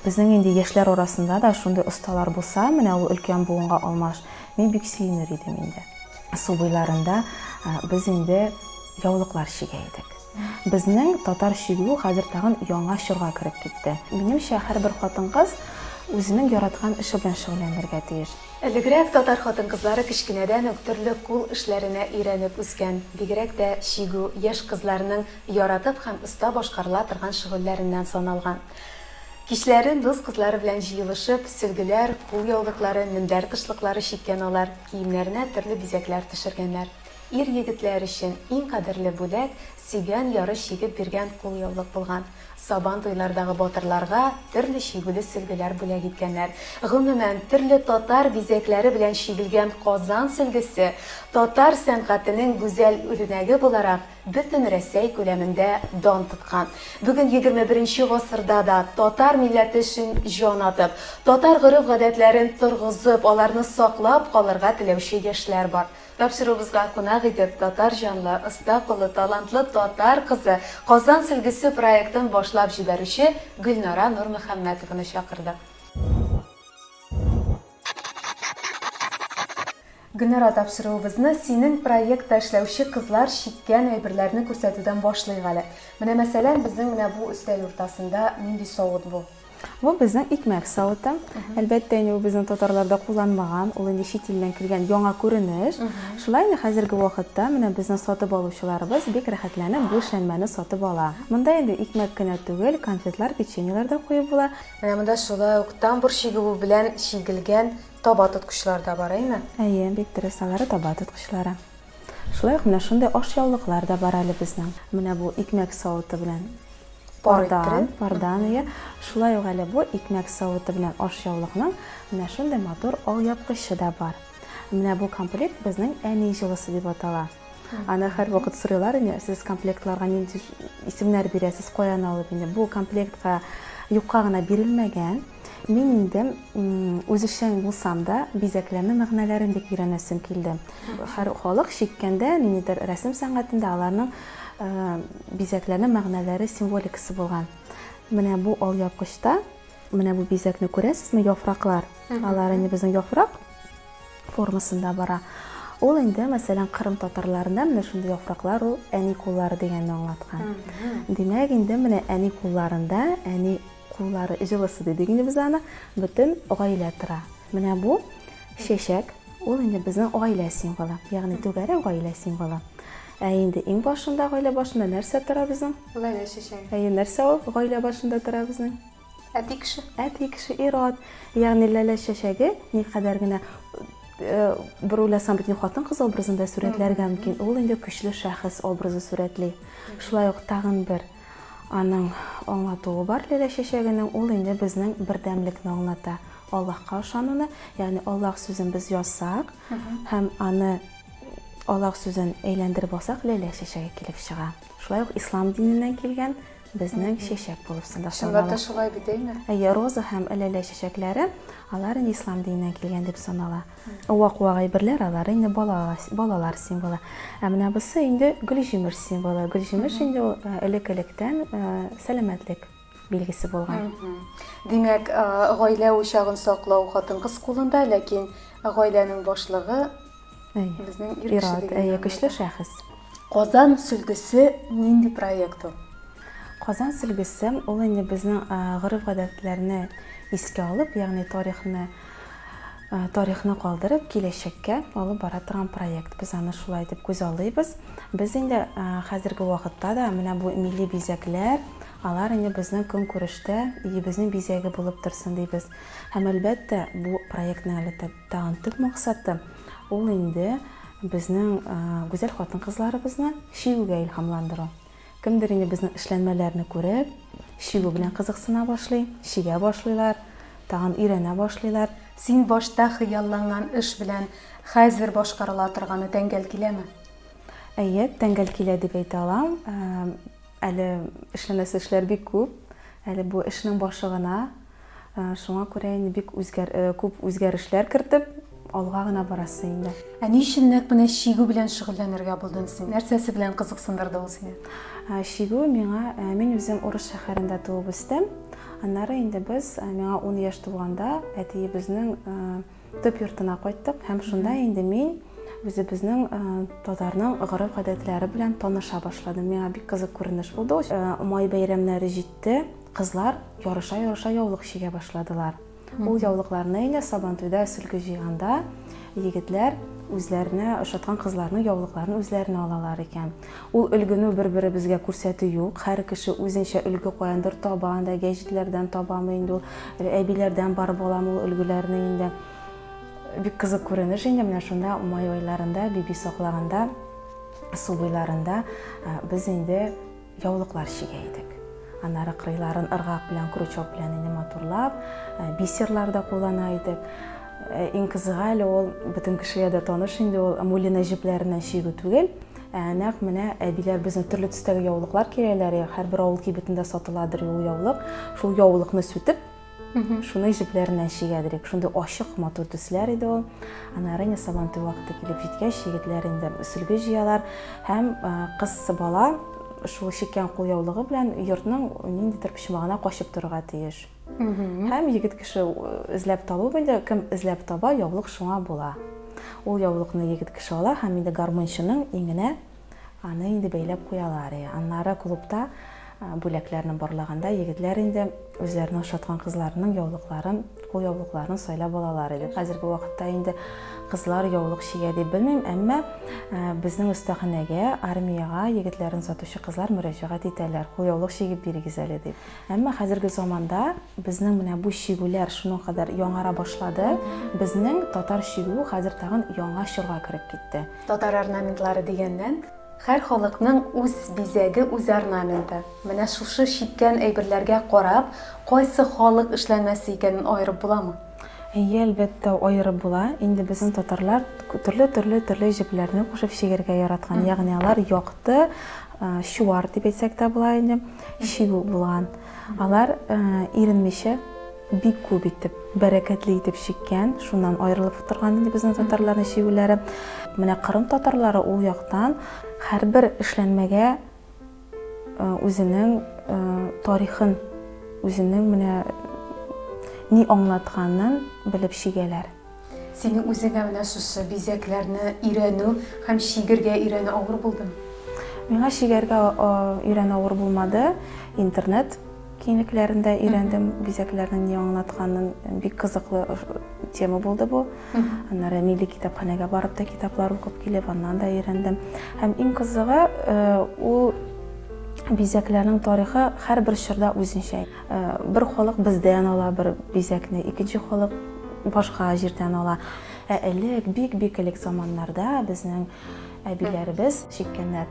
Безнең инде яшьләр арасында да шундый осталар булса, менә ул өлкән буынга алмаш, мин бик сөенер идем инде. Су буйларында без инде яулыклар чигә идек. Безнең татар чигү хәзер тагын яңа чорга кереп китте. Минемчә, һәрбер хатын-кыз үзенең яраткан эше белән шөгыльләнергә тиеш. Элегрәк татар хатын-кызлары кечкенәдән үк төрле кул эшләренә өйрәнеп үскән. Бигрәк тә чигү яшь кызларның яратып һәм оста башкарыла торган шөгыльләреннән саналган. Кичләрен дус кызлары белән җыелышып, сөлгеләр, кулъяулыклары, мендәр тышлыклары чиккән алар, киемнәренә төрле бизәкләр төшергәннәр. Ир-егетләр өчен иң кадерле бүләк, сөйгән яры чигеп биргән кулъяулык булган. Сабан туйлардагы батырларга төрле чигүле сөлгеләр бүләк иткәннәр. Гомумән, төрле татар бизәкләре белән чигелгән Казан сөлгесе татар сәнгатенең гүзәл үрнәге буларак бөтен Рәсәй күләмендә дан тоткан, бүген егерме беренче гасырда да татар милләте өчен җан атып, татар гореф-гадәтләрен торгызып, аларны саклап калырга теләүче яшьләр бар. Тапшыруыбызга кунак итеп, татар җанлы, оста куллы, талантлы татар кызы, Казан сөлгесе проектын башлап җибәрүче Гөлнара Нурмөхәммәтованы чакырдык. Гөлнара, тапшыруыбызны синең проектта эшләүче кызлар чиккән әйберләрне күрсәтүдән башлыйк әле. Менә, мәсәлән, безнең менә бу өстәл уртасында нинди савыт бу? Бу безнең икмәк савыты. Әлбәттә, инде ул безнең татарларда кулланмаган, ул инде чит илдән килгән яңа күренеш. Шулай инде хәзерге вакытта менә безнең сатып алучыларыбыз бик рәхәтләнеп бу эшләнмәне сатып ала. Монда инде икмәк кенә түгел, конфетлар, печеньелар да куеп була. Менә монда шулай ук тамбур чигүе белән чигелгән таба тоткычлар да бар, әйме? Әйе, бик дөрес, алары таба тоткычлары. Шулай ук менә шундый ашъяулыклар да бар әле безнең. Менә бу икмәк савыты белән пардан, пардан, әйе. Шулай ук әле бу икмәк савыты белән ашъяулыкның менә шундый матур алъяпкычы да бар. Менә бу комплект безнең әни җылысы дип атала. Аны һәрвакыт сорыйлар инде, сез комплектларга нинди исемнәр бирәсез, каян алып инде. Бу комплектка юкка гына бирелмәгән. Мин инде үзешчән булсам да, бизәкләме мәгънәләрен бик өйрәнәсем килде. Һәр халык шиккәндә, ниндидер рәсем сәнгатендә аларның э, бизәкләме мәгънәләре символикасы булган. Менә бу ал япкычта, менә бу бизәкне күрәсезме, яфраклар. Алар инде безнең яфрак, формасында бара. Ул инде, мәсәлән, Кырым татарларында менә шундый яфраклар ул әни куллары дигәнне аңлаткан. Димәк, инде менә әни кулларында, әни куллары җылысы дидек инде без аны, бөтен гаилә тора. Менә бу чәчәк, ул инде безнең гаилә символы, ягъни түгәрәк гаилә символы. Ә инде иң башында, гаилә башында нәрсә тора безнең? Гаилә чәчәге. Әйе, нәрсә ул гаилә башында тора безнең? Әти кеше. Әти кеше ир-ат. Ягъни Ләлә чәчәге никадәр генә бер уйласам бит хатын-кыз образында сурәтләргә мөмкин. Ул инде көчле шәхес образы сурәтли. Шулай ук тагын бер аның аңлатуы бар Ләлә чәчәгенең. Ул инде безнең бердәмлекне аңлата. Аллаһка ышануны, ягъни Аллаһ сүзен без язсак һәм аны Аллаһ сүзен әйләндереп алсак, Ләлә чәчәге килеп чыга. Шулай ук ислам диненнән килгән Безнең чәчәк булып сында Чынлап та шулай бит, әйме? Әйе, роза һәм әләлә чәчәкләре, алар инде ислам диненнән килгән дип санала. Вак-вак әйберләр, алар инде балалар, балалар символы. Ә менә бусы инде гөлҗимеш символы. Гөлҗимеш инде ул э, элек-электән э, сәламәтлек билгесе булган. Димәк, э, гаилә учагын саклау хатын-кыз кулында, ләкин гаиләнең башлыгы Безнең ир-ат, әйе, көчле шәхес. Казан сөлгесе нинди проект ул? Казан сөлгесе ул инде безнең гореф-гадәтләрне искә алып, ягъни тарихны тарихны калдырып, киләчәккә алып бара торган проект. Без аны шулай итеп күз алыйбыз. Без инде хәзерге вакытта да менә бу милли бизәкләр, алар инде безнең көнкүрештә, илебезнең бизәге булып торсын дибез. Һәм әлбәттә, бу проектның әле Тагын төп максаты ул инде безнең гүзәл хатын-кызларыбызны чигүгә илһамландыру. Кемдер инде безнең эшләнмәләрне күреп, чигү белән кызыксына башлый, чигә башлыйлар, тагын өйрәнә башлыйлар. Син башта хыялланган эш белән хәзер башкарыла торганы тәңгәл киләме? Әйе, тәңгәл килә дип әйтә алам. Әле эшләнәсе эшләр бик күп. Әле бу эшнең башы гына. Шуңа күрә инде бик күп үзгәрешләр кертеп, алга гына барасы инде. Ә ни өчен нәкъ менә чигү белән шөгыльләнергә булдың син? Нәрсәсе белән кызыксындырды ул сине? Чигү миңа, мин үзем Урыс шәһәрендә туып үстем. Аннары инде без, миңа 10 яшь тулганда, әтиебезнең Төп йортына кайттык һәм шунда инде мин үзебезнең э, татарның гореф-гадәтләре белән таныша башладым. Миңа бик кызык күренеш булды. Э, май бәйрәмнәре җитте, кызлар ярыша-ярыша яулык чигә башладылар. Ул яулыкларны инде Сабантуйда сөлге җыйганда егетләр үзләренә ошаткан кызларның яулыкларын үзләренә алалар икән. Ул өлгене бер-беребезгә күрсәтү юк. Һәр кеше үзенчә өлге каяндыр таба, анда гәҗитләрдән табамы инде ул, әбиләрдән барып алам ул өлгеләрне инде. Бик кызык күренеш инде менә шунда май айларында, биби саклаганда, су буйларында без инде яулыклар чигә идек. Аннары кырыйларын ыргак белән, крючок белән инде матурлап, бисерлар да куллана идек. Иң кызыгы әле ул бөтен кешегә дә таныш инде ул мулина җепләреннән чигү түгел, ә нәкъ менә әбиләр безне төрле төстәге яулыклар кигәләр, һәрбер авыл кибетендә сатыладыр ул яулык. Шул яулыкны сүтеп, шуны җепләреннән чигәдер идек. Шундый ачык, матур төсләр иде ул. Аннары инде сабантуй вакыты килеп җиткәч, егетләр инде сөлге җыялар һәм кыз бала шул чиккән кулъяулыгы белән йортның ниндидер почмагына качып торырга тиеш. Һәм егет кеше эзләп табу инде, кем эзләп таба, яулык шуңа була. Ул яулыкны егет кеше ала һәм инде гармунчының иңенә аны инде бәйләп куялар. Аннары клубта бүләкләрне борлаганда егетләр инде үзләренә ошаткан кызларының яулыкларын, кул яулыкларын сайлап алалар иде. Хәзерге вакытта инде кызлар яулык чигә дип белмим, әмма безнең остаханәгә, армиягә егетләрен сатучы кызлар мөрәҗәгать итәләр, кул яулык чигеп бирегез әле дип. Әмма хәзерге заманда безнең менә бу чигүләр шуның кадәр яңара башлады, безнең татар чигүе хәзер тагын яңа чорга кереп китте. Татар орнаментлары дигәннән, һәр халыкның үз бизәге, үз орнаменты. Менә шушы чиккән әйберләргә карап, кайсы халык эшләнмәсе икәнен аерып буламы? Әйе, әлбәттә, аерып була. Инде безнең татарлар төрле-төрле-төрле җепләрне кушып чигәргә яраткан, ягъни алар якты, чуар дип әйтсәк тә була инде, чигү булган. Алар иренмичә бик күп итеп, бәрәкәтле итеп чиккән, шуннан аерылып торган инде безнең татарларның чигүләре. Менә Кырым татарлары ул яктан һәрбер эшләнмәгә үзенең тарихын, үзенең менә ни аңлатканын белеп чигәләр. Синең үзеңә менә шушы бизәкләрне өйрәнү һәм чигергә өйрәнү авыр булдымы? Миңа чигәргә өйрәнү авыр булмады. Интернет киңлекләрендә өйрәндем бизәкләрнең ни аңлатканын. Бик кызыклы тема булды бу. Аннары милли китапханәгә барып та китаплар укып килеп, аннан да өйрәндем. Һәм иң кызыгы, ул бизәкләрнең тарихы һәрбер чорда үзенчә. Бер халык бездән ала бер бизәкне, икенче халык башка җирдән ала. Ә элек, бик-бик элек заманнарда безнең әбиләребез чиккәннәр.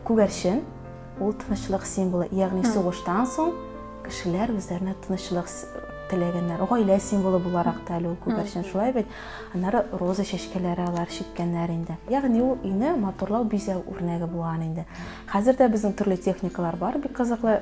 Күгәрчен ул тынычлык символы, ягъни сугыштан соң кешеләр үзләренә тынычлык теләгәннәр. Гаилә символы буларак та әле ул күгәрчен шулай бит. Аннары роза чәчкәләре алар чиккәннәр инде. Ягъни ул өйне матурлау бизәү үрнәге булган инде. Хәзер дә безнең төрле техникалар бар, бик кызыклы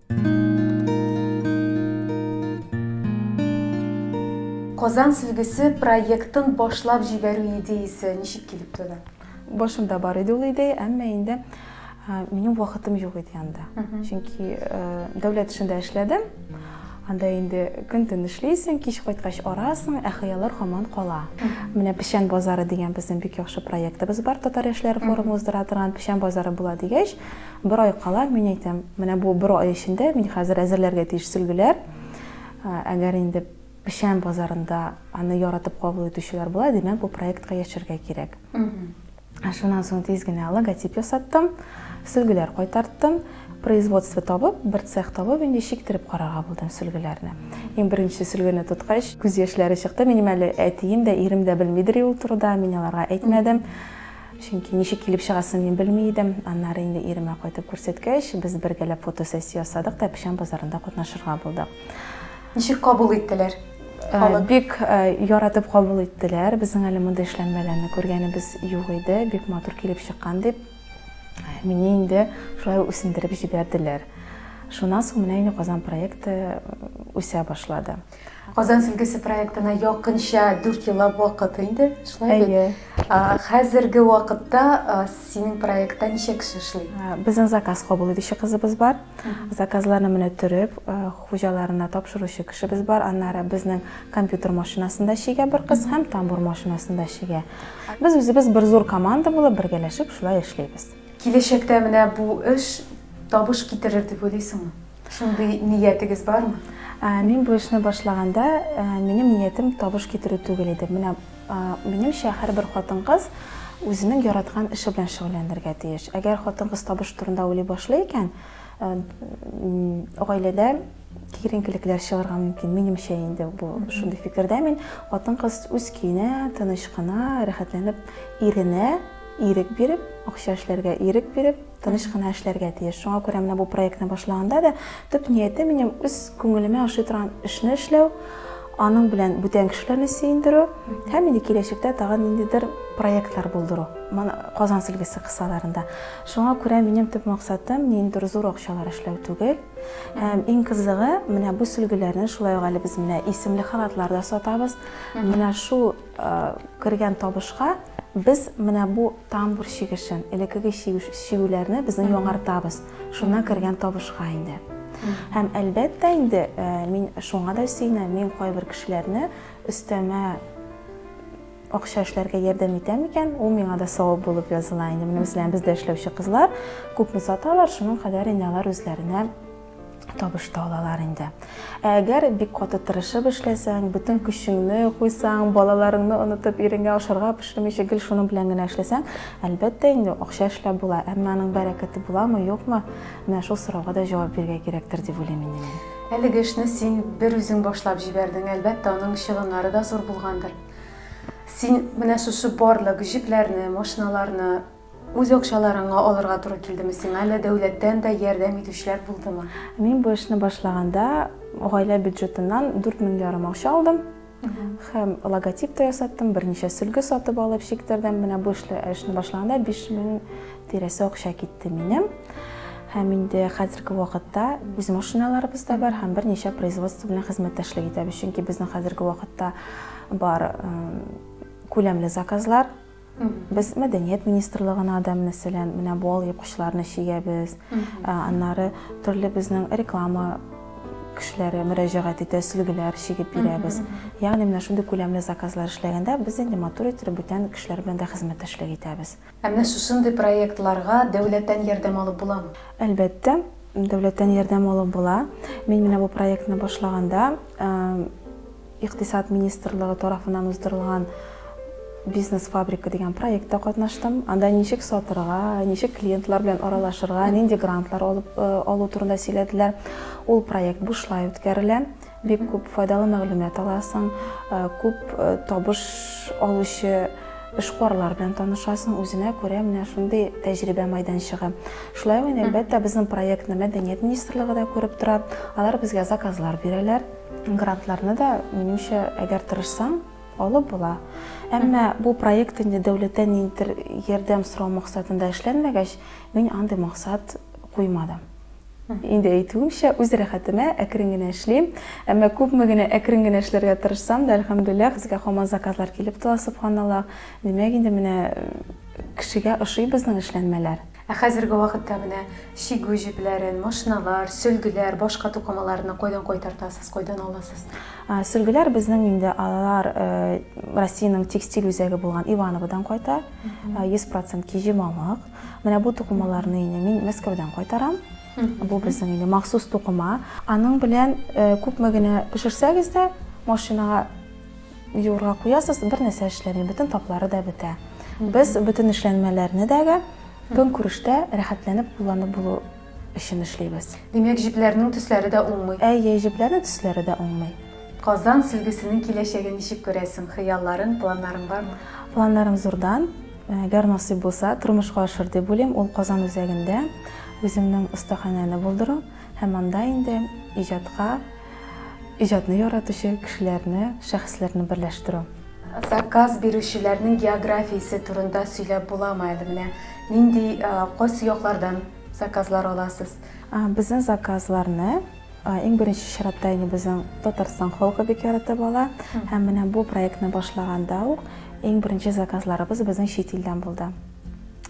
Казан сөлгесе проектын башлап җибәрү идеясе ничек килеп туды? Башымда бар иде ул идея, әмма инде минем вакытым юк иде анда. Чөнки дәүләт эшендә эшләдем. Анда инде көн-төн эшлисең, кич кайткач арасың, ә хыяллар һаман кала. Менә Печән базары дигән безнең бик яхшы проектыбыз бар, татар яшьләре форумы уздыра торган Печән базары була дигәч, Бер ай кала, мин әйтәм, менә бу бер ай эчендә мин хәзер әзерләргә тиеш сөлгеләр. Әгәр инде печән базарында аны яратып кабул итүчеләр була, димәк, бу проектка яшәргә кирәк. Шуннан соң тиз генә логотип ясаттым, сөлгеләр кайтарттым. Производство табып, бер цех табып, инде чиктереп карарга булдым сөлгеләрне. Иң беренче сөлгене тоткач, күз яшьләре чыкты. Минем әле әтием дә, ирем дә белмидер ул турыда, мин аларга әйтмәдем. Чөнки ничек килеп чыгасын мин белми идем. Аннары инде иремә кайтып күрсәткәч, без бергәләп фотосессия ясадык та печән базарында катнашырга булдык. Ничек кабул иттеләр? Бик яратып кабул иттеләр. Безнең әле мондый эшләнмәләрне күргәнебез юк иде. Бик матур килеп чыккан дип, мине инде шулай үсендереп җибәрделәр. Шуннан соң менә инде Казан проекты үсә башлады. Казан сөлгесе проектына якынча дүрт еллап вакыт инде, шулай бит? Әйе. Хәзерге вакытта синең проектта ничә кеше эшли? Безнең заказ кабул итүче кызыбыз бар. Заказларны менә төреп, хуҗаларына тапшыручы кешебез бар. Аннары безнең компьютер машинасында чигә бер кыз һәм тамбур машинасында чигә. Без үзебез бер зур команда булып бергәләшеп шулай эшлибез. Киләчәктә менә бу эш табыш китерер дип уйлыйсыңмы? Шундый ниятегез бармы? Мин бу эшне башлаганда, минем ниятем табыш китерү түгел иде. Менә минемчә, һәрбер хатын-кыз үзенең яраткан эше белән шөгыльләнергә тиеш. Әгәр хатын-кыз табыш турында уйлый башлый икән, гаиләдә киеренкелекләр чыгарга мөмкин. Минемчә инде бу шундый фикердә мин. Хатын-кыз үз көенә, тыныч кына, рәхәтләнеп, иренә ирек биреп, акча эшләргә ирек биреп, Тыныч кына эшләргә тиеш. Шуңа күрә менә бу проектны башлаганда да төп нияте минем үз күңелемә ошый торган эшне эшләү, аның белән бүтән кешеләрне сөендерү һәм инде киләчәктә тагын ниндидер проектлар булдыру. Моны Казан сөлгесе кысаларында. Шуңа күрә минем төп максатым ниндидер зур акчалар эшләү түгел. Һәм иң кызыгы, менә бу сөлгеләрне шулай ук әле без менә исемле халатлар да сатабыз. Менә шул Кергән табышка без менә бу тамбур чигешен, элеккеге чигүләрне безнең яңартабыз. Шуннан кергән табышка инде. Һәм әлбәттә инде мин шуңа да сөенәм, мин кайбер кешеләрне өстәмә акча эшләргә ярдәм итәм икән, ул миңа да савап булып языла инде. Менә мәсәлән, бездә эшләүче кызлар күпме саталар, шуның кадәр инде алар үзләренә табыш та алалар инде. Ә әгәр бик каты тырышып эшләсәң, бөтен көчеңне куйсаң, балаларыңны онытып, ириңә ашарга пешермичә гел шуның белән генә эшләсәң, әлбәттә инде акча эшләп була, әмма аның бәрәкәте буламы, юкмы? Менә шул сорауга да җавап бирергә кирәктер дип уйлыйм инде мин. Әлеге эшне син бер үзең башлап җибәрдең, әлбәттә, аның чыгымнары да зур булгандыр. Син менә шушы барлык җепләрне, машиналарны Үз акчаларыңа алырга туры килдеме сиңа, әллә дәүләттән дә ярдәм итүчеләр булдымы? Мин бу эшне башлаганда гаилә бюджетыннан дүрт мең ярым акча алдым һәм логотип та ясаттым, берничә сөлге сатып алып чиктердем. Менә бу эшле эшне башлаганда 5000 тирәсе акча китте минем. Һәм инде хәзерге вакытта үз машиналарыбыз да бар һәм берничә производство белән хезмәттәшлек итәбез. Чөнки безнең хәзерге вакытта бар күләмле заказлар Без мәдәният министрлыгына да, мәсәлән, менә бу алъяпкычларны чигәбез. Аннары төрле безнең реклама кешеләре мөрәҗәгать итә, сөлгеләр чигеп бирәбез. Ягъни менә шундый күләмле заказлар эшләгәндә без инде матур иттереп бүтән кешеләр белән дә хезмәттәшлек итәбез. Ә менә шушындый проектларга дәүләттән ярдәм алып буламы? Әлбәттә, дәүләттән ярдәм алып була. Мин менә бу проектны башлаганда, Икътисад министрлыгы тарафыннан уздырылган Бизнес-фабрика дигән проектта катнаштым. Анда ничек сатырга, ничек клиентлар белән аралашырга, нинди грантлар алып э, алу турында сөйләделәр. Ул проект бушлай үткәрелә. Бик күп файдалы мәгълүмат аласың, э, күп э, табыш алучы эшкуарлар белән танышасың, үзенә күрә менә шундый тәҗрибә майданчыгы. Шулай ук, әлбәттә, безнең проектны Мәдәният министрлыгы да күреп тора. Алар безгә заказлар бирәләр. Грантларны да, минемчә, әгәр тырышсаң, алып була. Әмма бу проект инде дәүләттән ниндидер ярдәм сорау максатында эшләнмәгәч, мин андый максат куймадым. Инде әйтүемчә, үз рәхәтемә әкрен генә эшлим. Әмма күпме генә әкрен генә эшләргә тырышсам да, әлхәмдүлилләһ, безгә һаман заказлар килеп тора, сөбханаллаһ. Димәк, инде менә кешегә ошый безнең эшләнмәләр. Ә хәзерге вакытта менә чигү җепләрен, машиналар, сөлгеләр, башка тукымаларны кайдан кайтартасыз, кайдан аласыз? Сөлгеләр безнең инде алар Россиянең текстиль үзәге булган Ивановодан кайта. 100% киҗи мамык. Менә бу тукымаларны инде мин Мәскәүдән кайтарам. Бу безнең инде махсус тукыма. Аның белән күпме генә пешерсәгез дә, машинага Юырга куясыз, бернәрсә эшләми, бөтен таплары да бетә. Без бөтен эшләнмәләрне дәге көнкүрештә рәхәтләнеп кулланып булу өчен эшлибез. Димәк, җепләрнең төсләре дә уңмый. Әйе, җепләрнең төсләре дә уңмый. Казан сөлгесенең киләчәген ничек күрәсең? Хыялларың, планнарың бармы? Планнарым зурдан. Әгәр насыйп булса, тормышка ашыр дип уйлыйм. Ул Казан үзәгендә үземнең остаханәне булдыру. Һәм анда инде иҗатка, иҗатны яратучы кешеләрне, шәхесләрне берләштерү. Заказ бирүчеләрнең географиясе турында сөйләп буламы әле? Менә нинди, кайсы яклардан заказлар аласыз? Безнең заказларны иң беренче чиратта инде безнең Татарстан халкы бик яратып ала. Һәм менә бу проектны башлаганда ук иң беренче заказларыбыз безнең чит илдән булды.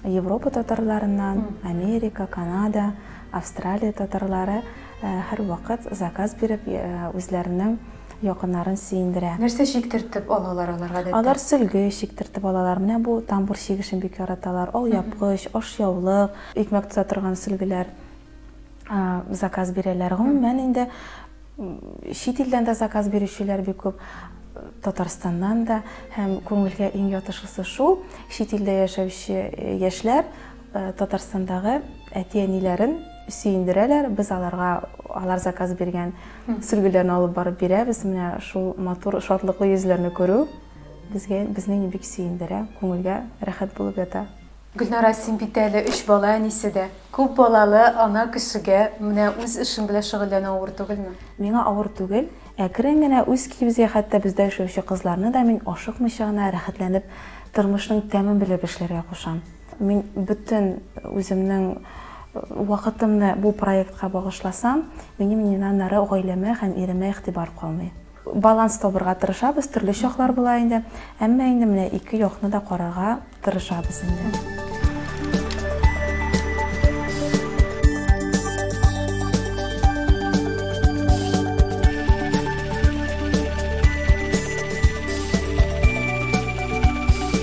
Европа татарларыннан, Америка, Канада, Австралия татарлары һәрвакыт заказ биреп, үзләренең якыннарын сөендерә. Нәрсә чиктертеп алалар алар гадәттә? Алар сөлге чиктертеп алалар. Менә бу тамбур чигешен бик яраталар. Алъяпкыч, ашъяулык, икмәк тота торган сөлгеләр заказ бирәләр. Гомумән инде Чит илдән дә заказ бирүчеләр бик күп, Татарстаннан да. Һәм күңелгә иң ятышысы шул, чит илдә яшәүче яшьләр Татарстандагы әти-әниләрен сөендерәләр, без аларга алар заказ биргән сөлгеләрне алып барып бирәбез. Менә шул матур, шатлыклы йөзләрне күрү безгә, безне бик сөендерә, күңелгә рәхәт булып ята. Гөлнара, син бит әле өч бала әнисе дә. Күп балалы ана кешегә менә үз эшең белән шөгыльләнү авыр түгелме? Миңа авыр түгел. Әкрен генә үз кибезгә хәтта бездә эшләүче кызларны да мин ашыкмыйча гына рәхәтләнеп тормышның тәмен белеп эшләргә кушам. Мин бөтен үземнең вакытымны бу проектка багышласам, минем инанара гаиләмә һәм иремә игътибар калмый. Баланс табырга тырышабыз, төрле чаклар була инде, әмма инде менә ике якны да карарга тырышабыз инде.